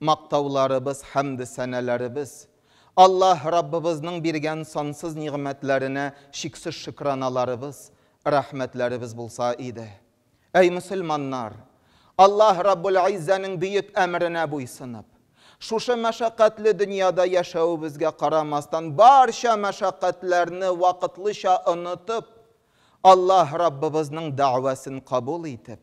Мактауларыбыз, хәмде-сәналарыбыз, Аллаһ Раббыбызның биргән сансыз нигъмәтләренә чиксез шөкраналарыбыз, рәхмәтләребез булса иде. Әй мөселманнар! Аллаһ Раббул-Иззәнең бөек әмеренә буйсынып, шушы мәшәкатьле дөньяда яшәвебезгә карамастан, барча мәшәкатьләрне вакытлыча онытып, Аллаһ Раббыбызның дәгъвасын кабул итеп,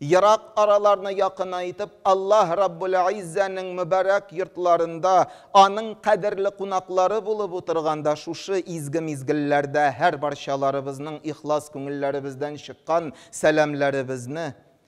ерак араларны якынайтып, Аллаһ Раббулгыйззәнең мөбарәк йортларында, Аның кадерле кунаклары булып утырганда шушы изге мизгелләрдә һәрбарчаларыбызның ихлас күңелләребездән чыккан сәламләребезне,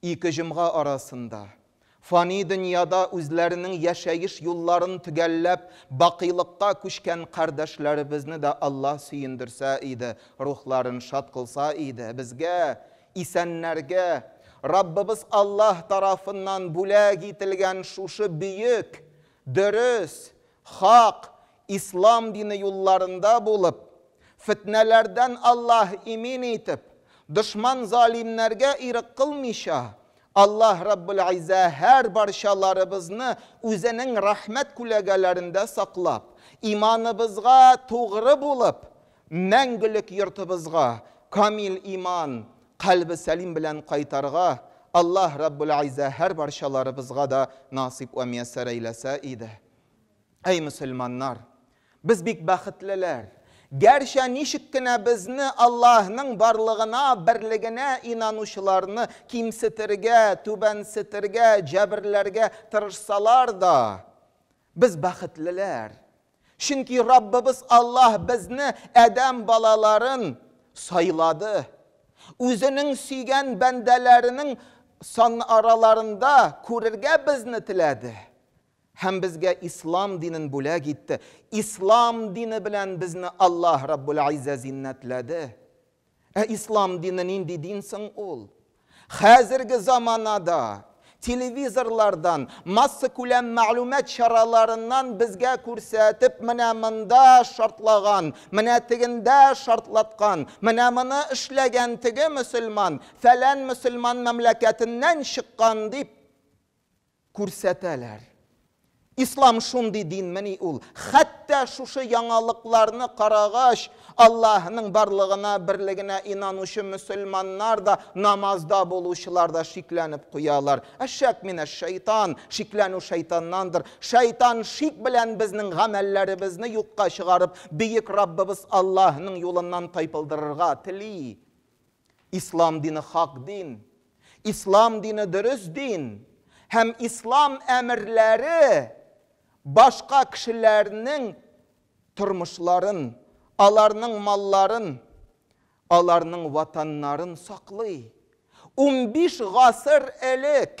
Ике җомга арасында, фани дөньяда үзләренең яшәеш юлларын төгәлләп, бакыйлыкка күчкән кардәшләребезне дә Аллаһ сөендерсә иде, рухларын шат кылса иде, безгә, исәннәргә, Раббыбыз Аллаһ тарафыннан бүләк ителгән шушы бөек, дөрес, Хак, Ислам дине юлларында булып, фетнәләрдән Аллаһ имин итеп, дошман-залимнәргә ирек кылмыйча, Аллаһ Раббелгыйззә һәр барчаларыбызны Үзенең рәхмәт күләгәләрендә саклап, иманыбызга тугры булып, мәңгелек йортыбызга камил иман, Кальбе сәлим белән кайтарга Аллаһ Раббуләйзә һәр барчаларыбызга да насыйп вә мияссәр әйләсә иде. Әй мөселманнар! Без бик бәхетлеләр! Гәрчә ничек кенә безне Аллаһның барлыгына, берлегенә инанучыларны кимсетергә, түбәнсетергә, җәберләргә тырышсалар да, Без бәхетлеләр, чөнки Раббыбыз Аллаһ безне, адәм балаларын, сайлады. Үзенең сөйгән бәндәләренең санараларында күрергә безне теләде һәм безгә ислам динен бүләк итте. Ислам дине белән безне Аллаһ Раббул-Иззә зиннәтләде. Ә ислам дине нинди дин соң ул? Хәзерге заманада телевизорлардан, массакүләм мәгълүмат чараларыннан безгә күрсәтеп, менә монда шартлаган, менә тегендә шартлаткан, менә моны эшләгән теге мөселман, фәлән мөселман мәмләкәтеннән чыккан дип, күрсәтәләр. Ислам шундый динмени ул? Хәтта шушы яңалыкларны карагач, Аллаһының барлыгына, берлегенә инанучы мөселманнар да, намазда булучылар да шикләнеп куялар. Әшшәк минәш шәйтан, шикләнү шайтаннандыр. Шайтан шик белән безнең гамәлләребезне юкка чыгарып, бөек Раббыбыз Аллаһының юлыннан тайпылдырырга тели. Ислам дине хак дин, Ислам дине дөрес дин һәм Ислам әмерләре башка кешеләрнең тормышларын, аларның малларын, аларның ватаннарын саклый. Унбиш гасыр элек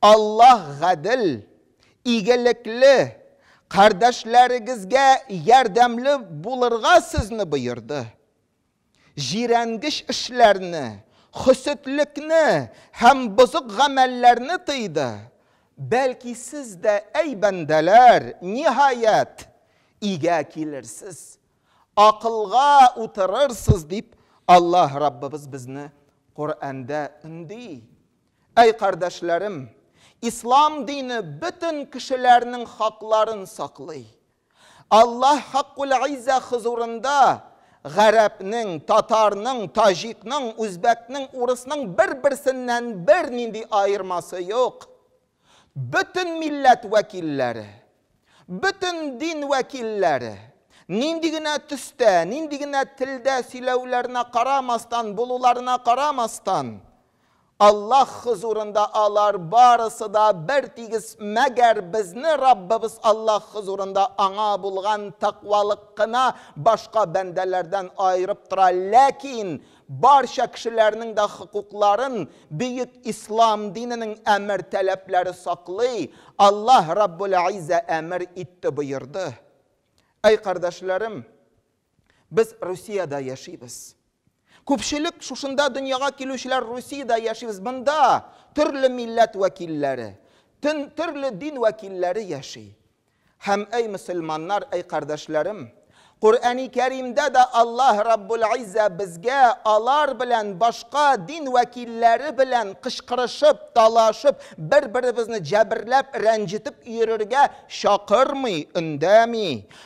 Аллаһ гадел, игелекле, кардәшләрегезгә ярдәмле булырга сезне боерды. Җирәнгеч эшләрне, хөсетлекне һәм бозык гамәлләрне тыйды. Бәлки сез дә, әй бәндәләр, ниһаять, игә килерсез, акылга утырырсыз, дип Аллаһ Раббыбыз безне Коръәндә өнди. Әй кардәшләрем, Ислам дине бөтен кешеләрнең хакларын саклый. Аллаһ Хаккул-Иззә хозурында гарәпнең, татарның, таҗикның, үзбәкнең, урысның бер-берсеннән бернинди аермасы юк. Бөтен милләт вәкилләре, бөтен дин вәкилләре, нинди генә төстә, нинди генә телдә сөйләүләренә карамастан, булуларына карамастан, Аллаһ хозурында алар барысы да бертигез, мәгәр безне Раббыбыз Аллаһ хозурында Аңа булган тәкъвалык кына башка бәндәләрдән аерып тора, ләкин барча кешеләрнең дә хокукларын бөек Ислам диненең әмер-таләпләре саклый, Аллаһ Раббул-Иззә әмер итте, боерды. Әй кардәшләрем! Без Русиядә яшибез. Күпчелек шушында дөньяга килүчеләр Русиядә яшибез. Монда төрле милләт вәкилләре, төн төрле дин вәкилләре яши. Һәм әй мөселманнар, әй кардәшләрем, Коръәни Кәримдә дә Аллаһ Раббул Иззә безгә алар белән башка дин вәкилләре белән кычкырышып, талашып, бер-беребезне җәберләп, рәнҗетеп йөрергә чакырмый, өндәми.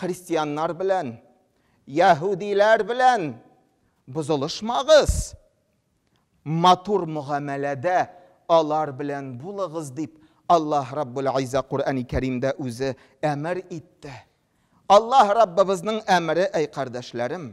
Христианнар белән, яһүдиләр белән бозылышмагыз, матур мөгамәләдә алар белән булыгыз, дип Аллаһ Раббул Айза Коръәни Кәримдә үзе әмер итте. Аллаһ Раббыбызның әмере, әй кардәшләрем!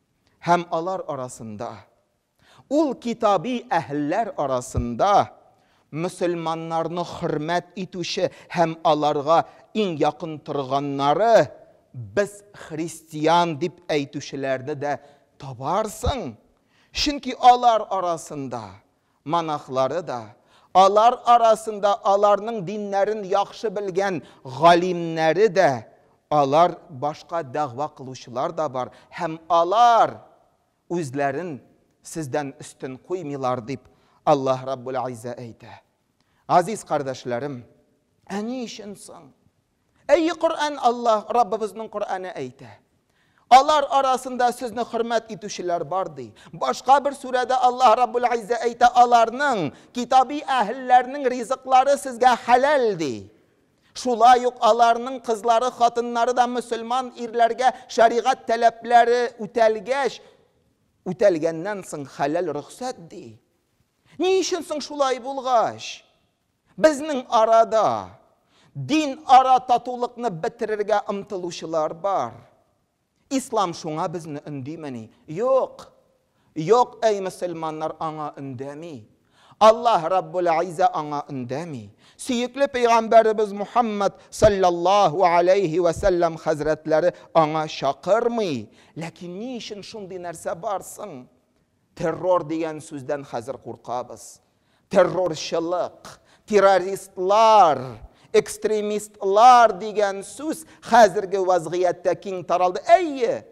Һәм алар арасында, ул китаби әһелләр арасында мөселманнарны хөрмәт итүче һәм аларга иң якын торганнары, без христиан дип әйтүчеләрне дә табарсың, чөнки алар арасында монахлары да, алар арасында аларның диннәрен яхшы белгән галимнәре дә, алар башка дәгъва кылучылар да бар, һәм алар үзләрен сездән өстен куймыйлар, дип Аллаһ Раббул-Иззә әйтә. Газиз кардәшләрем, ә ни өчен соң? Әйе, Коръән Аллаһ, Раббыбызның Коръәне әйтә. Алар арасында сезне хөрмәт итүчеләр бар, ди. Башка бер сүрәдә Аллаһ Раббул Иззә әйтә, Аларның, китаби әһелләрнең ризыклары сезгә хәләл, ди. Шулай ук аларның кызлары, хатыннары да мөселман ирләргә шәригать таләпләре үтәлгәч, үтәлгәннән соң хәләл рөхсәт, ди. Ни өчен соң шулай булгач? Безнең арада динара татулыкны бетерергә омтылучылар бар. Ислам шуңа безне өндимени? Юк! Юк, әй мөселманнар аңа өндәми. Аллаһ Раббул-Айза аңа өндәми. Сөекле пәйгамбәребез Мухаммад салләллаһу аләйһи вә сәлләм хәзрәтләре аңа чакырмый. Ләкин ни өчен шундый нәрсә бар соң? Террор дигән сүздән хәзер куркабыз. Террорчылык, террористлар, экстремистлар дигән сүз хәзерге вазгыятьтә киң таралды. Әйе,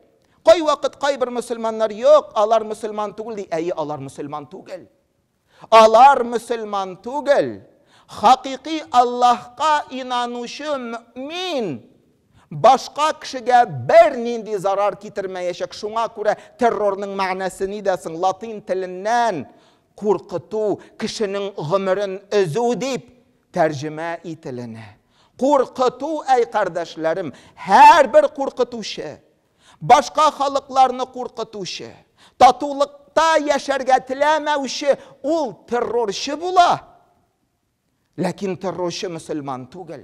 кайвакыт кайбер мөселманнар юк, алар мөселман түгел ди. Әйе, алар мөселман түгел. Алар мөселман түгел, хакыйкый Аллаһка инанучы мөэмин башка кешегә бернинди зарар китермәячәк, шуңа күрә террорның мәгънәсе нидә соң, латин теленнән куркыту, кешенең гомерен өзү дип тәрҗемә ителенә. Куркыту, әй кардәшләрем, һәрбер куркытучы, Башка халыкларны куркытучы, татулыкта яшәргә теләмәүче ул террорчы була. Ләкин террорчы мөселман түгел.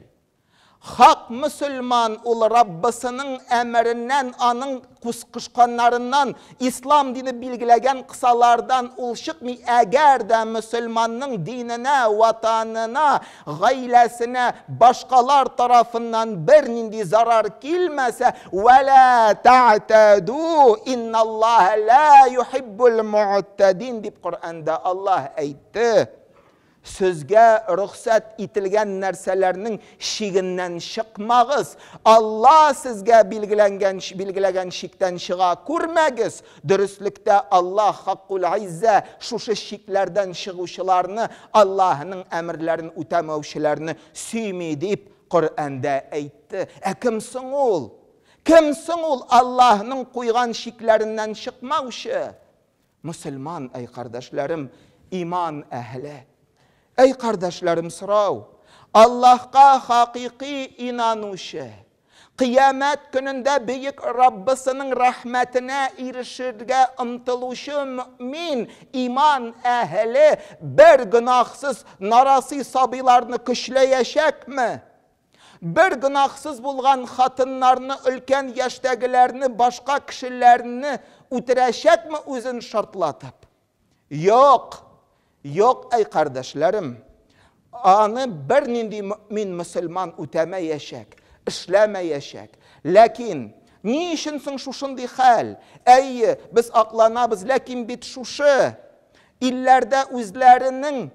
Хак мөселман ул Раббысының әмереннән, аның кушканнарыннан, ислам дине билгеләгән кысалардан ул чыкмый, әгәр дә мөселманның диненә, ватанына Гаиләсенә башкалар тарафыннан бернинди зарар килмәсә, Вә лә тәгътәду, инналлаһа лә юхиббул мөгътәдин, дип Коръәндә Аллаһ әйтте. Сезгә рөхсәт ителгән нәрсәләрнең чигеннән чыкмагыз, Аллаһ сезгә билгеләнгән, билгеләгән чиктән чыга күрмәгез, Дөреслектә, Аллаһ Хаккулгыйззә шушы чикләрдән чыгучыларны, Аллаһының әмерләрен үтәмәүчеләрне сөйми, дип Коръәндә әйтте. Ә кем соң ул? Кем соң ул Аллаһының куйган чикләреннән чыкмаучы? Мөселман, әй кардәшләрем, иман әһеле! Әй кардәшләрем, сорау! Аллаһка хакыйкый инанучы, Кыямәт көнендә Бөек Раббысының рәхмәтенә ирешергә омтылучы мөэмин, иман әһеле бер гөнаһсыз нарасый сабыйларны көчләячәкме? Бер гөнаһсыз булган хатыннарны, өлкән яшьтәгеләрне, башка кешеләрне үтерәчәкме үзен шартлатып? Юк! Юк, әй кардәшләрем! Аны бернинди мөэмин мөселман үтәмәячәк, эшләмәячәк. Ләкин, ни өчен соң шушындый хәл? Әйе, без акланабыз, ләкин бит шушы илләрдә үзләренең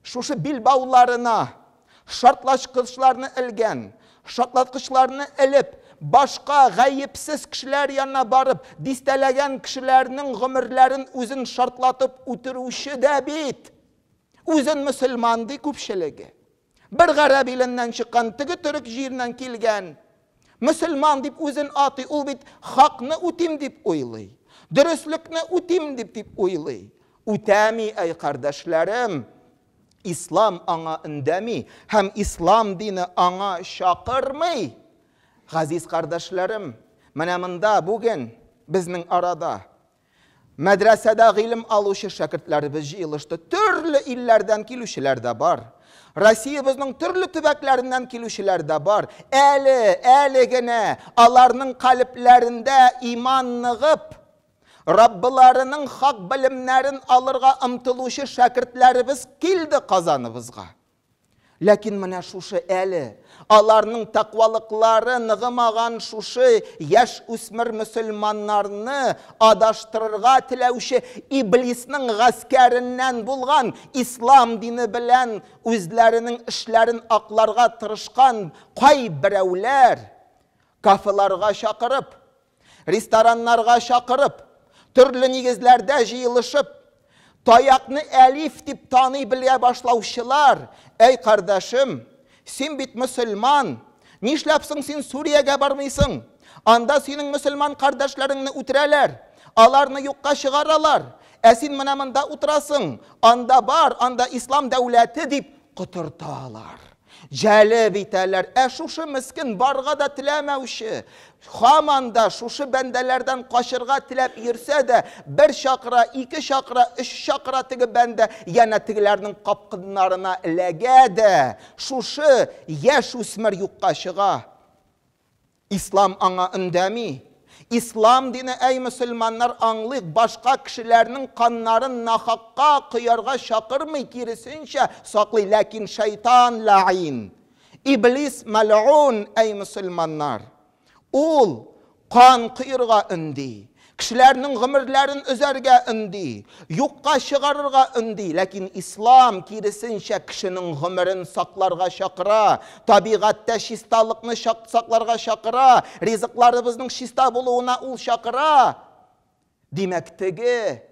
шушы билбауларына Шартлачкычларны элгән. Шартлаткычларны элеп, башка гаепсез кешеләр янына барып, дистәләгән кешеләрнең гомерләрен үзен шартлатып үтерүче дә бит! Үзен мөселман ди күпчелеге. Бер гарәп иленнән чыккан, теге төрек җиреннән килгән. Мөселман дип үзен атый, ул бит хакны үтим дип уйлый. Дөреслекне үтим дип дип уйлый. Үтәми, әй кардәшләрем! Ислам аңа өндәми һәм ислам дине аңа чакырмый. Газиз кардәшләрем, менә монда бүген безнең арада мәдрәсәдә гыйлем алучы шәкертләребез җыелышты. Төрле илләрдән килүчеләр дә бар. Россиябезнең төрле төбәкләреннән килүчеләр дә бар. Әле, әле генә аларның калебләрендә иман ныгып, Раббыларының хак белемнәрен алырга омтылучы шәкертләребез килде Казаныбызга. Ләкин менә шушы әле аларның тәкъвалыклары ныгымаган шушы яшь үсмер мөселманнарны адаштырырга теләүче иблисның гаскәреннән булган, ислам дине белән үзләренең эшләрен акларга тырышкан кайберәүләр кафеларга чакырып, рестораннарга чакырып, төрле нигезләрдә җыелышып, таякны әлиф дип таный белә башлаучылар, әй кардәшем, син бит мөселман, нишләп соң син Сүриягә бармыйсың? Анда синең мөселман кардәшләреңне үтерәләр, аларны юкка чыгаралар, ә син менә монда утырасың, анда бар, анда ислам дәүләте дип котырталар. Җәлеп итәләр. Ә шушы мескен, барырга да теләмәүче, һаман да шушы бәндәләрдән качырга теләп йөрсә дә, бер чакыра, ике чакыра, өч чакыра теге бәндә, янә тегеләрнең капкыннарына эләгә дә, шушы яшүсмер юкка чыга. Ислам аңа өндәми. Ислам дине, әй мөселманнар, аңлыйк, башка кешеләрнең каннарын нахакка коярга чакырмый, киресенчә, саклый. Ләкин шайтан ләгъин, иблис мәлгун, әй мөселманнар, ул кан коерга өнди. Кешеләрнең гомерләрен өзәргә өнди, юкка чыгарырга өнди, ләкин Ислам, киресенчә, кешенең гомерен сакларга чакыра, табигатьтә чисталыкны сакларга чакыра, ризыкларыбызның чиста булуына ул чакыра. Димәк, теге,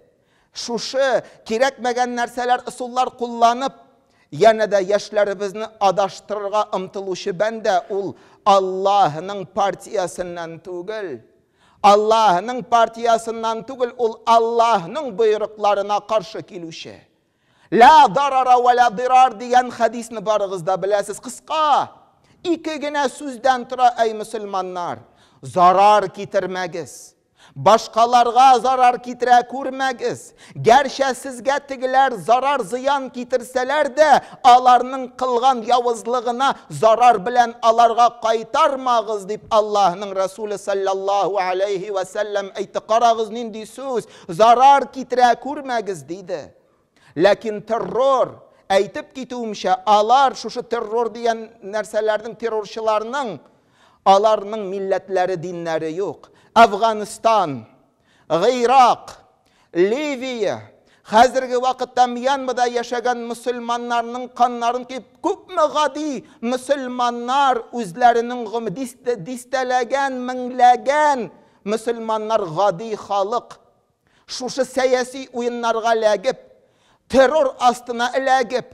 шушы кирәкмәгән нәрсәләр, ысуллар кулланып, янә дә яшьләребезне адаштырырга омтылучы бәндә ул Аллаһының партиясеннән түгел. Аллаһның партиясыннан түгел, ул Аллаһның боерыкларына каршы килүче. Лә дарара вә лә дирар дигән хәдисне барыгыз да беләсез. Кыска, ике генә сүздән тора, әй мөселманнар, зарар китермәгез. Башкаларга зарар китерә күрмәгез. Гәрчә сезгә тегеләр зарар-зыян китерсәләр дә, аларның кылган явызлыгына зарар белән аларга кайтармагыз, дип Аллаһның Рәсүле салләллаһу галәйһи вә сәлләм әйтте. Карагыз, нинди сүз, зарар китерә күрмәгез, диде. Ләкин террор, әйтеп китүемчә, алар, шушы террор дигән нәрсәләрнең, террорчыларның, аларның милләтләре, диннәре юк. Әфганстан. Гыйрак, Ливия, хәзерге вакытта Мьянмада яшәгән мөселманнарның каннарын кип, күпме гади мөселманнар үзләренең гом, дистәләгән, меңләгән мөселманнар гади халык шушы сәяси уеннарга ләгеп, террор астына эләгеп,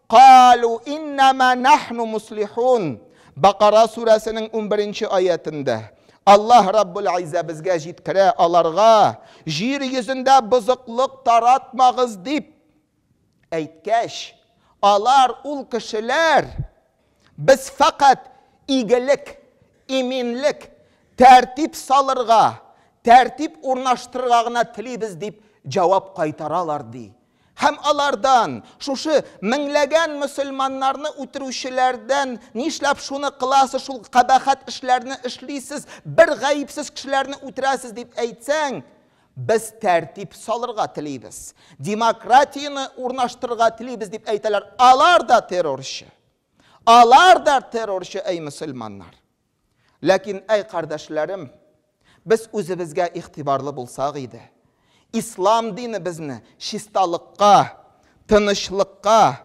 Калу иннама нахну муслихун. Бакара сүрәсенең унберенче аятендә Аллаһ Раббул Айза безгә җиткерә, аларга, Җир йөзендә бозыклык таратмагыз, дип әйткәч, алар, ул кешеләр, Без фәкать игелек, иминлек, тәртип салырга, тәртип урнаштырырга гына телибез, дип җавап кайтаралар, ди Һәм алардан, шушы меңләгән мөселманнарны үтерүчеләрдән, Нишләп шуны кыласыз, шул кабахәт эшләрне эшлисез, бер гаепсез кешеләрне үтерәсез, дип әйтсәң, Без тәртип салырга телибез, демократияне урнаштырырга телибез, дип әйтәләр. Алар да террорчы. Алар да террорчы, әй мөселманнар. Ләкин, әй кардәшләрем, без үзебезгә игътибарлы булсак иде. Ислам дине безне чисталыкка, тынычлыкка,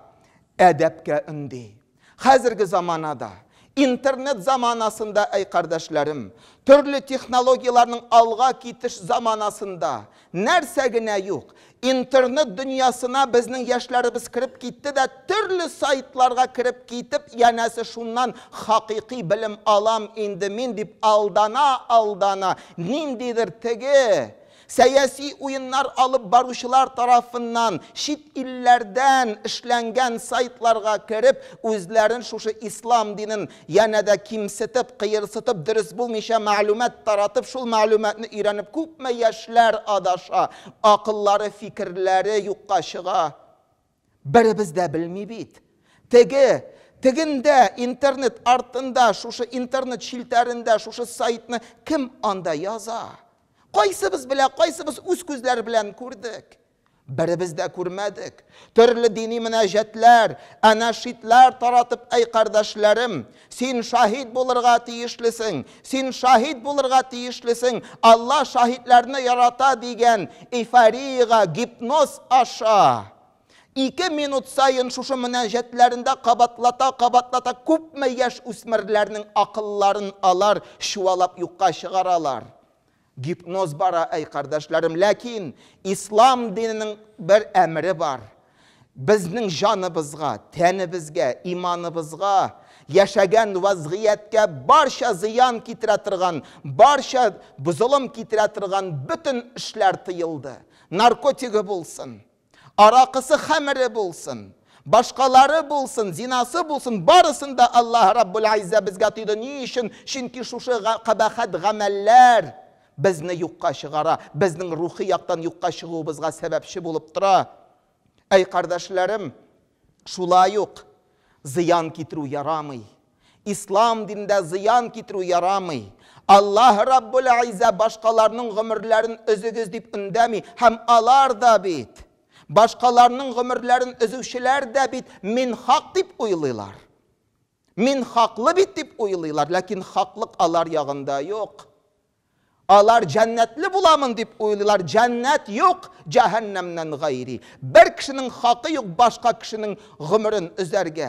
әдәпкә өнди. Хәзерге заманада, интернет заманасында, әй кардәшләрем, төрле технологияләрнең алга китеш заманасында Нәрсә генә юк! Интернет дөньясына безнең яшьләребез кереп китте дә, төрле сайтларга кереп китеп, янәсе шуннан хакыйкый белем алам инде мин дип алдана-алдана, ниндидер теге сәяси уеннар алып баручылар тарафыннан чит илләрдән эшләнгән сайтларга кереп, үзләрен шушы ислам динен Янә дә кимсетеп, кыерсытып, дөрес булмыйча мәгълүмат таратып, шул мәгълүматны өйрәнеп күпме яшьләр адаша, акыллары, фикерләре юкка чыга. Беребез дә белми бит. Теге, тегендә, интернет артында, шушы интернет челтәрендә шушы сайтны кем анда яза? Кайсыбыз белә, кайсыбыз үз күзләр белән күрдек? Беребез дә күрмәдек. Төрле дини мөнәҗәтләр, әнәшидләр таратып, әй кардәшләрем, син шаһит булырга тиешлесең, син шаһит булырга тиешлесең, Алла шаһитләрне ярата дигән эйфориягә, гипноз аша, ике минут саен шушы мөнәҗәтләрендә кабатлата-кабатлата күпме яшь үсмерләрнең акылларын алар чуалап юкка чыгаралар. Гипноз бара, әй кардәшләрем, ләкин ислам диненең бер әмере бар, безнең җаныбызга, тәнебезгә, иманыбызга, яшәгән вазгыятькә барча зыян китерә торган, барча бозылым китерә торган бөтен эшләр тыелды. Наркотигы булсын, Аракысы хәмере булсын, башкалары булсын, зинасы булсын, барысын да Аллаһ Раббул-Айззә безгә тыйды. Ни өчен? Чөнки шушы кабахәт гамәлләр безне юкка чыгара, безнең рухи яктан юкка чыгуыбызга сәбәпче булып тора. Әй, кардәшләрем, шулай ук зыян китерү ярамый. Ислам динендә зыян китерү ярамый. Аллаһ Раббул Иззә башкаларның гомерләрен өзегез дип өндәми, һәм алар да бит, башкаларның гомерләрен өзүчеләр дә бит мин хак дип уйлыйлар. Мин хаклы бит дип уйлыйлар, ләкин хаклык алар ягында юк. Алар җәннәтле буламын дип уйлыйлар, җәннәт юк, җәһәннәмнән гайри. Бер кешенең хакы юк башка кешенең гомерен өзәргә.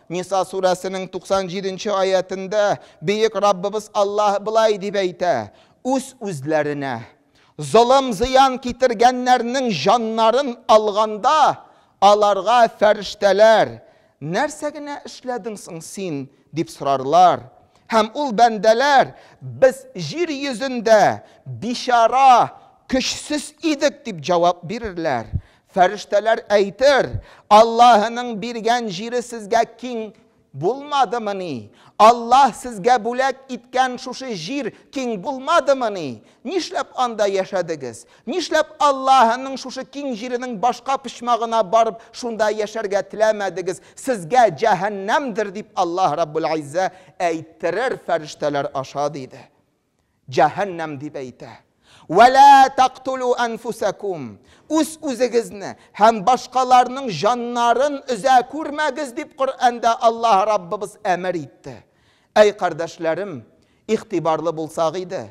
Ниса сүрәсенең 97 нче аятендә Бөек Раббыбыз Аллаһ болай дип әйтә, Үз-үзләренә золым-зыян китергәннәрнең җаннарын алганда, аларга фәрештәләр, Нәрсә генә эшләдең соң син? дип сорарлар. Һәм ул бәндәләр, Без җир йөзендә бичара, көчсез идек, дип җавап бирерләр. Фәрештәләр әйтер, Аллаһының биргән җире сезгә киң булмадымыни? Аллаһ сезгә бүләк иткән шушы җир киң булмадымыни? Нишләп анда яшәдегез? Нишләп Аллаһының шушы киң җиренең башка почмагына барып, шунда яшәргә теләмәдегез? Сезгә җәһәннәмдер, дип Аллаһ Раббул Иззә әйттерер фәрештәләр аша, диде. Җәһәннәм дип әйтә. Вә лә тәкътүлү әнфүсәкүм, үз-үзегезне һәм башкаларның җаннарын өзә күрмәгез, дип Коръәндә Аллаһ Раббыбыз әмер итте. Әй кардәшләрем, игътибарлы булсак иде.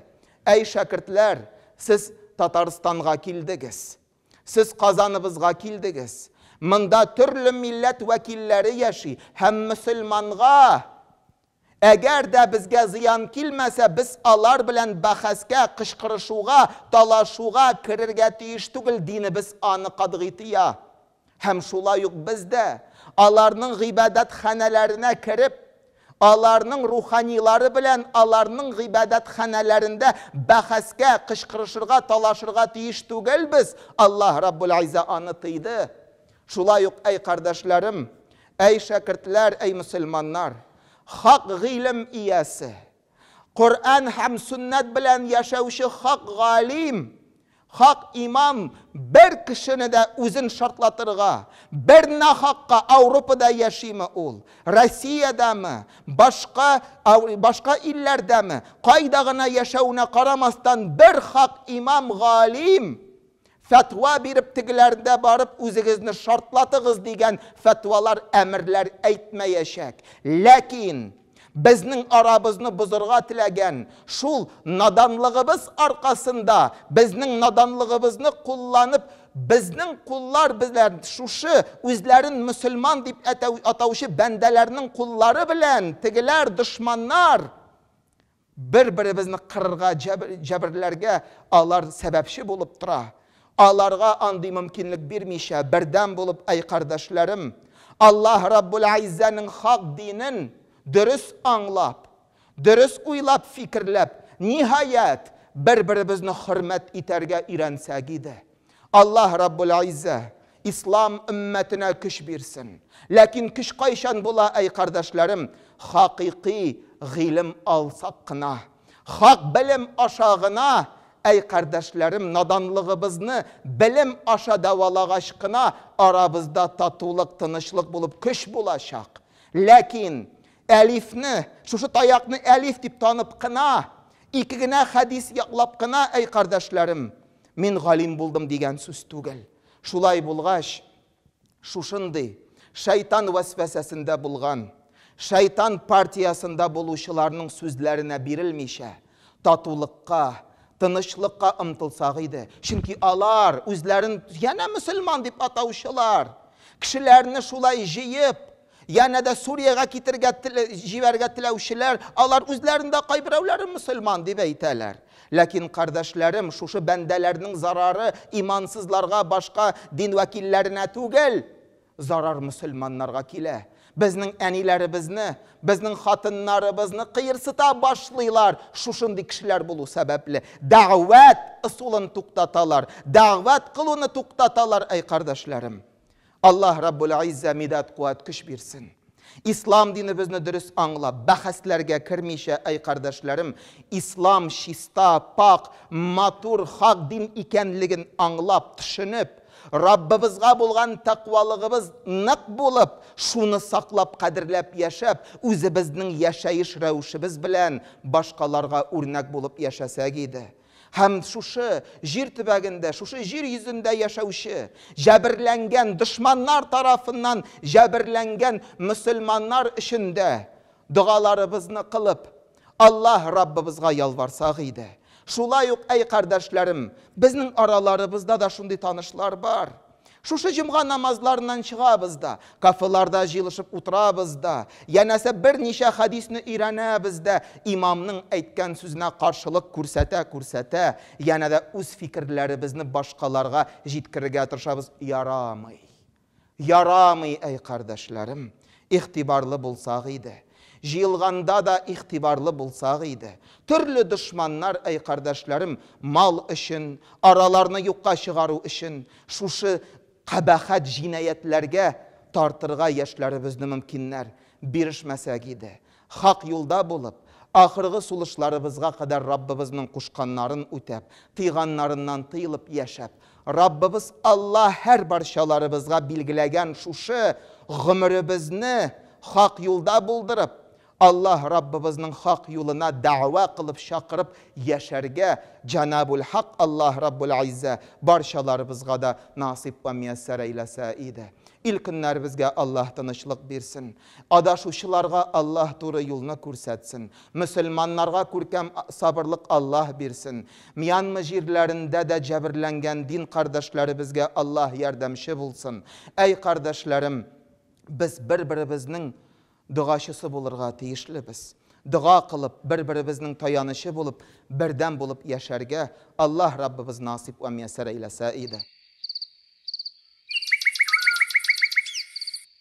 Әй шәкертләр, сез Татарстанга килдегез. Сез Казаныбызга килдегез. Монда төрле милләт вәкилләре яши һәм мөселманга Әгәр дә безгә зыян килмәсә, без алар белән бәхәскә, кычкырышуга, талашуга керергә тиеш түгел, динебез аны катгый тыя. Һәм шулай ук без дә, аларның гыйбадәтханәләренә кереп, аларның руханилары белән аларның гыйбадәтханәләрендә бәхәскә, кычкырышырга, талашырга тиеш түгелбез, Аллаһ Раббул-Изза аны тыйды. Шулай ук, әй кардәшләрем, әй шәкертләр, әй мөселманнар, хак гыйлем иясе, Коръән һәм сөннәт белән яшәүче хак галим, хак имам бер кешене дә үзен шартлатырга, бер нахакка Ауропада яшиме ул, Россиядәме, башка, башка илләрдәме, кайда гына яшәвенә карамастан, бер хак имам, галим, Фәтва биреп тегеләрдә барып үзегезне шартлатыгыз дигән фәтвалар әмерләр әйтмәячәк. Ләкин безнең арабызны бозырга теләгән, шул наданлыгыбыз аркасында, безнең наданлыгыбызны кулланып, безнең куллар белән шушы үзләрен мөселман дип әтәү, атаучы бәндәләрнең куллары белән тегеләр дошманнар Бер-беребезне кырырга, җәберләргә алар сәбәпче булып тора. Аларга андый мөмкинлек бирмичә, бердәм булып, әй кардәшләрем, Аллаһ Раббул-Әйззәнең хак динен дөрес аңлап, дөрес уйлап-фикерләп, ниһаять, бер-беребезне хөрмәт итәргә өйрәнсәк иде. Аллаһ Раббул Иззә Ислам өммәтенә көч бирсен. Ләкин көч кайчан була, әй кардәшләрем? Хакыйкый гыйлем алсак кына. Хак белем аша гына, әй кардәшләрем, наданлыгыбызны белем аша дәвалагач кына, арабызда татулык, тынычлык булып көч булачак. Ләкин әлифне, шушы таякны әлиф дип танып кына, ике генә хәдис яклап кына, әй кардәшләрем, Мин галим булдым дигән сүз түгел. Шулай булгач, шушындый шайтан вәсвәсәсендә булган, шайтан партиясендә булучыларның сүзләренә бирелмичә, татулыкка, тынычлыкка омтылсак иде. Чөнки алар, үзләрен янә мөселман дип атаучылар, кешеләрне шулай җыеп, Янә дә Суриягә китергә, җибәрергә теләүчеләр, алар үзләрен дә кайберәүләрен мөселман дип әйтәләр. Ләкин, кардәшләрем, шушы бәндәләрнең зарары имансызларга, башка дин вәкилләренә түгел, зарар мөселманнарга килә. Безнең әниләребезне, безнең хатыннарыбызны кыерсыта башлыйлар шушындый кешеләр булу сәбәпле. Дәгъвәт ысулын туктаталар, дәгъвәт кылуны туктаталар, әй кардәшләрем! Аллаһ Раббул Иззә мидад куәт көч бирсен. Ислам динебезне дөрес аңлап, бәхәсләргә кермичә, әй кардәшләрем, Ислам чиста, пакь, матур, хак дин икәнлеген аңлап, төшенеп, Раббыбызга булган тәкъвалыгыбыз нык булып, шуны саклап, кадерләп яшәп, үзебезнең яшәеш рәвешебез белән башкаларга үрнәк булып яшәсәк иде. Һәм шушы җир төбәгендә, шушы җир йөзендә яшәүче, җәберләнгән, дошманнар тарафыннан җәберләнгән мөселманнар өчен дә догаларыбызны кылып, Аллаһ Раббыбызга ялварсак иде. Шулай ук, әй кардәшләрем, безнең араларыбызда да шундый танышлар бар. Шушы җомга намазларыннан чыгабыз да, кафеларда җыелышып утырабыз да, янәсе берничә хәдисне өйрәнәбез дә, имамның әйткән сүзенә каршылык күрсәтә-күрсәтә, янә дә үз фикерләребезне башкаларга җиткерергә тырышабыз. Ярамый. Ярамый, әй кардәшләрем. Игътибарлы булсак иде. Җыелганда да игътибарлы булсак иде. Төрле дошманнар, әй кардәшләрем, мал өчен, араларны юкка чыгару өчен, шушы кабахәт җинаятьләргә тартырга яшьләребезне мөмкиннәр, бирешмәсәк иде. Хак юлда булып, ахыргы сулышларыбызга кадәр Раббыбызның кушканнарын үтәп, тыйганнарыннан тыелып яшәп, Раббыбыз Алла һәрбарчаларыбызга билгеләгән шушы гомеребезне хак юлда булдырып, Алла Раббыбызның хак юлына дәгъва кылып чакырып яшәргә Җанабул-Хак Алла Раббул-Иззә барчаларыбызга да насыйп вә мияссәр әйләсә иде. Ил-көннәребезгә Алла тынычлык бирсен. Адашучыларга Аллаһ туры юлны күрсәтсен. Мөселманнарга күркәм сабырлык Аллаһ бирсен. Мьянма җирләрендә дә җәберләнгән дин кардәшләребезгә Аллаһ ярдәмче булсын. Әй кардәшләрем, без бер-беребезнең догачысы булырга тиешлебез. Дога кылып, бер-беребезнең таянычы булып, бердәм булып яшәргә Аллаһ Раббыбыз насыйп вә мияссәр әйләсә иде.